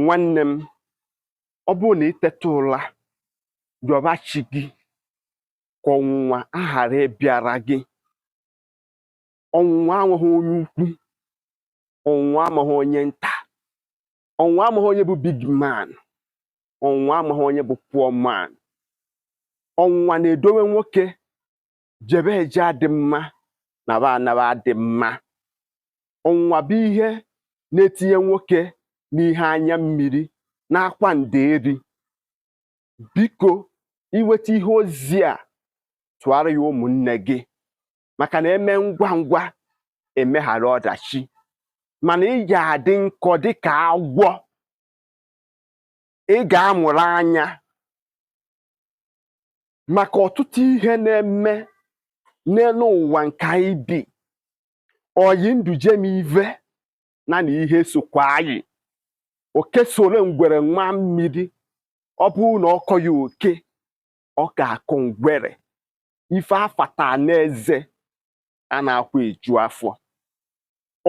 nwanne m ọ bụrụ na i teta ụla yọba chi gị ka ọnwụnwa aghara ịbịara gị ọnwụnwa amaghị onye ukwu ọnwụnwa amaghị onye nta ọnwụnwa amaghị onye bụ big man ọnwụnwa amaghị onye bụ poor man ọnwụnwa na-edowe nwoke jebe eje adị mma naba anaba adị mma ọnwụnwa bụ ihe na-etinye nwoke n'ihe anya mmiri n'akwa nderi biko i nweta ihe ozi a tụara ya ụmụnne gị maka na e mee ngwa ngwa emeghara ọdachi mana ị ga-adị nkọ dịka agwọ ị ga-amụrụ anya maka ọtụtụ ihe na-eme n'elu ụwa nke anyị bi oyi ndụ jem ive na na ihe sokwa anyị oke soro ngwere maa mmiri ọ bụrụ na ọ kọghị oke ọ ga-akọ ngwere ife afata n'eze anaghịkwa eju afọ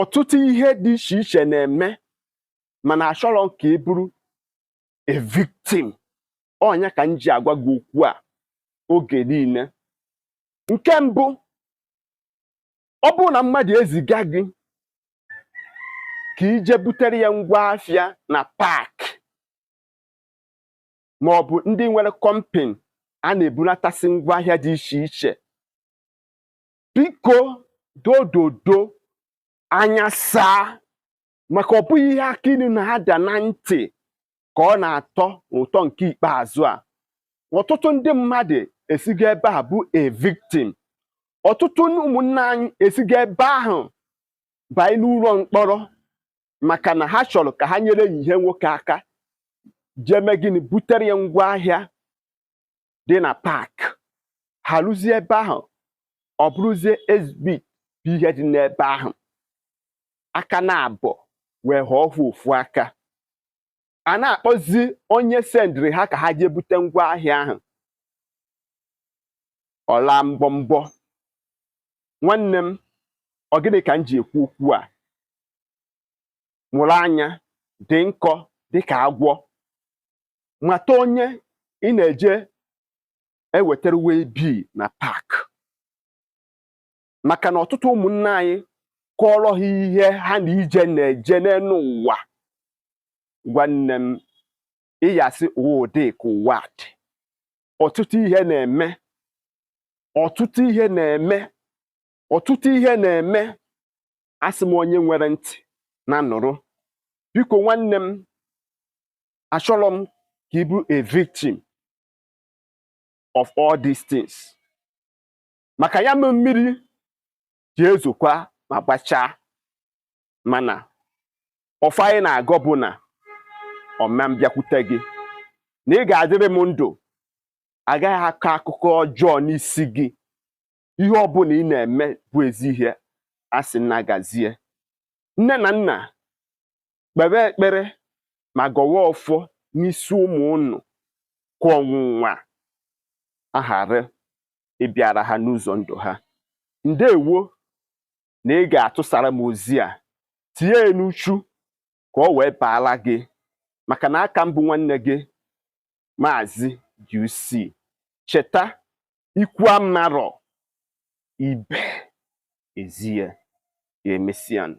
ọtụtụ ihe dị iche iche na-eme mana achọrọ m ka ị bụrụ a victim ọ nya ka m ji agwa gị okwu a oge niile nke mbụ ọ bụrụ na mmadụ eziga gị ka i je butere ya ngwa afịa na park ma ọ bụ ndị nwere company a na-ebulatasị ngwa ahịa dị iche iche biko dododo anya saa maka ọ bụghị ihe akị ilu na-ada na ntị ka ọ na-atọ ụtọ nke ikpeazụ a ọtụtụ ndị mmadụ esigo ebe a bụ a victim ọtụtụ ụmụnne anyị esigo ebe ahụ banye n'ụlọ mkpọrọ maka na ha chọrọ ka ha nyere ya ihe nwoke aka jee mee gịnị butere ya ngwa ahịa dị na park ha ruzie ebe ahụ ọ bụrụzie exhibit bụ ihe dị n'ebe ahụ aka naabọ wee ghọọ ofu aka a na-akpọzi onye sendịrị ha ka ha jee bute ngwa ahịa ahụ ọ laa mbọmbọ nwanne m ọ gịnị ka m ji ekwu okwu a mụrụ anya dị nkọ dịka agwọ mata onye ị na-eje ewetara waybill na park maka na ọtụtụ ụmụnna anyị kọọrọ gị ihe ha na ije na-eje n'elu ụwa nwanne m ị ya-asị ụwa dị ka ụwa dị ọtụtụ ihe na-eme ọtụtụ ihe na-eme ọtụtụ ihe na-eme asị m onye nwere ntị nya nụrụ biko nwanne m achọrọ m ka ị bụrụ a victim of all these things maka ya mee mmiri ji ezokwa ma gbachaa mana ọfọ anyị na-agọ bụ na ọ ma bịakwute gị na ị ga-adịrị m ndụ a gaghị akọ akụkọ ọjọọ n'isi gị ihe ọbụla ị na-eme bụ ezi ihe asị m nya gazie nne na nna kpebe ekpere ma gọwa ọfọ n'isi ụmụ unu ka ọnwụnwa a ghara ịbịara ha n'ụzọ ndụ ha ndewo na ị ga-atụsara m ozi a tinye ya n'uchu ka ọ wee baara gị maka na aka m bụ nwanne gị maazị UC cheta ikwu amarọ ibe ezie ya emesịanụ